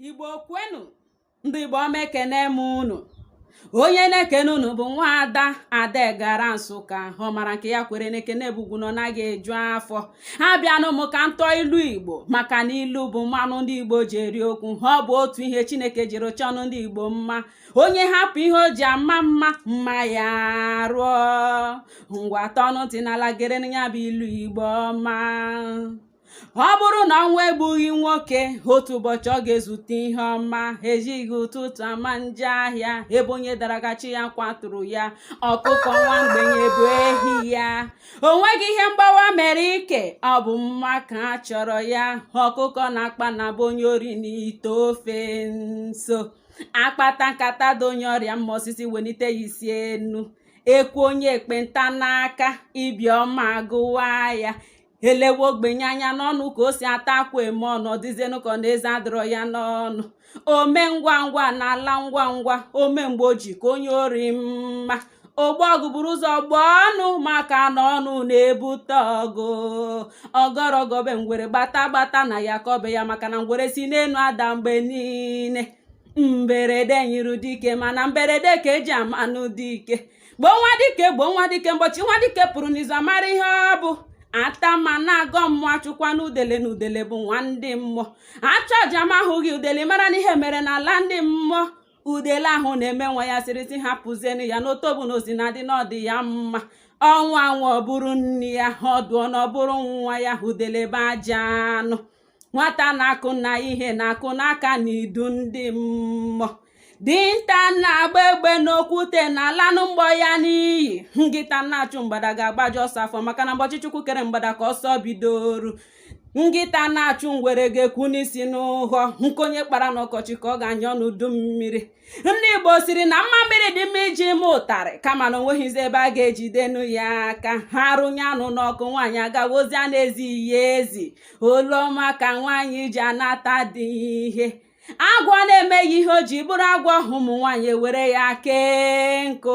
igbo kwenu ndị igbo ọma ekene m unu onye na-ekene unu bụ nwa ada ada gara nsụka ọ mara nke ya kwere na ekene bụ ugwu na ọ naghị eju afọ ha bịanụ m ka m tụọ ilu igbo maka na ilu bụ mmanụ ndị igbo ji eri okwu ha ọ bụ otu ihe chineke jiri chọọnụ ndị igbo mma onye hapụ ihe o ji ama mma mma ya arụọ ngwa tọọnụ ntị n'ala gere ya bụ ilu igbo ọma ọ bụrụ na ọnwụ egbughị nwoke otu ụbọchị ọ ga-ezute ihe ọma ejighị ụtụtụ ama njọ ahịa ebe onye dara ka chi ya kwaturu ya ọkụkọ nwa mgbenye bụ ehi ya o nweghị ihe mgbawa mere ike ọ bụ mma ka a chọrọ ya ọkụkọ na-akpa na be onye ori n'ite ofe nso akpata nkata dị onye ọrịa mma osisi wenite ya isi enu ekwe onye ekpenta n'aka ibi ọma agụwa ya elewe ogbenye anya n'ọnụ ka o si ata akwụ eme ọnụ ọ dịzienụ ka ọ na eze adịrọ ya n'ọnụ ome ngwa ngwa na-ala ngwa ngwa ome mgbe o ji ka onye ori mma ogbo ọgụ buru ụzọ gboo ọnụ maka na ọnụ na-ebute ọgụ ọgọrọ ọgọ be ngwere gbata gbata na ya kọbe ya maka na ngwere si n'enu ada mgbe niine mberede nyịrụ dike mana mberede ka eji amanụ dike gbuo nwa dike gbuo nwa dike mbọchị nwa dike pụrụ n'izu amara ihe ọ bụ atama na-agọ mmụọ achụkwana udele na udele bụ nwa ndị mmụọ achụọ aja ma ahụghị udele mara na ihe mere n'ala ndị mmụọ udele ahụ na-eme nwa ya siri si hapụzienụ ya n'otobo na o si na-adị na ọ dị ya mma ọ nwụọ na ọ bụrụ nni ya ọ dụọ na ọ bụrụ nwa ya udele be aja anụ nwata na-akụ na ihe na-akụ n'aka n'idu ndị mmụọ dinta na-agba egbe n'okwute na-alanụ mgbọ ya n'iyi ngịta na-achụ mgbada ga-agbaju ọsọ afọ maka na mbọchị chukwu kere mgbada ka ọsọ bidoru nkịta na-achụ ngwere ga-ekwu n'isi n'ụhọ nkụ onye kpara n'ọkọchị ka ọ ga-anya n'udu mmiri ndị igbo siri na mmamịrị dị mma iji mee ụtarị kama na o nweghịzi ebe a ga-ejidenụ ya aka ha rụnye anụ n'ọkụ nwaanyị agawa ozi a na-ezighị ya ezi olu ọma ka nwaanyị ji anata di ihe agwọ na-emeghị ihe o ji bụrụ agwọ ụmụ nwaanyị ewere ya kee nkụ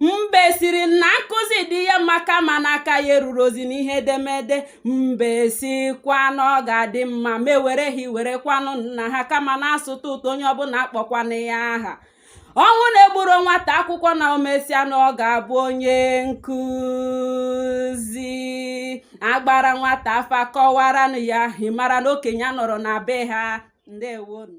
mbe siri na nkụzi dị ya mma kama na aka ya erurozi n'ihe edemede mbe sikwa na ọ ga-adị mma ma ewere ehi were kwaanụ nna ha kama na asụta ụtụ onye ọbụna akpọkwana ya aha ọnwụ na-egburo nwata akwụkwọ na o mesịa na ọ ga-abụ onye nkụzi agbara nwata afa kọwaranụ ya ị mara na okenye anọrọ na be ha ndewonu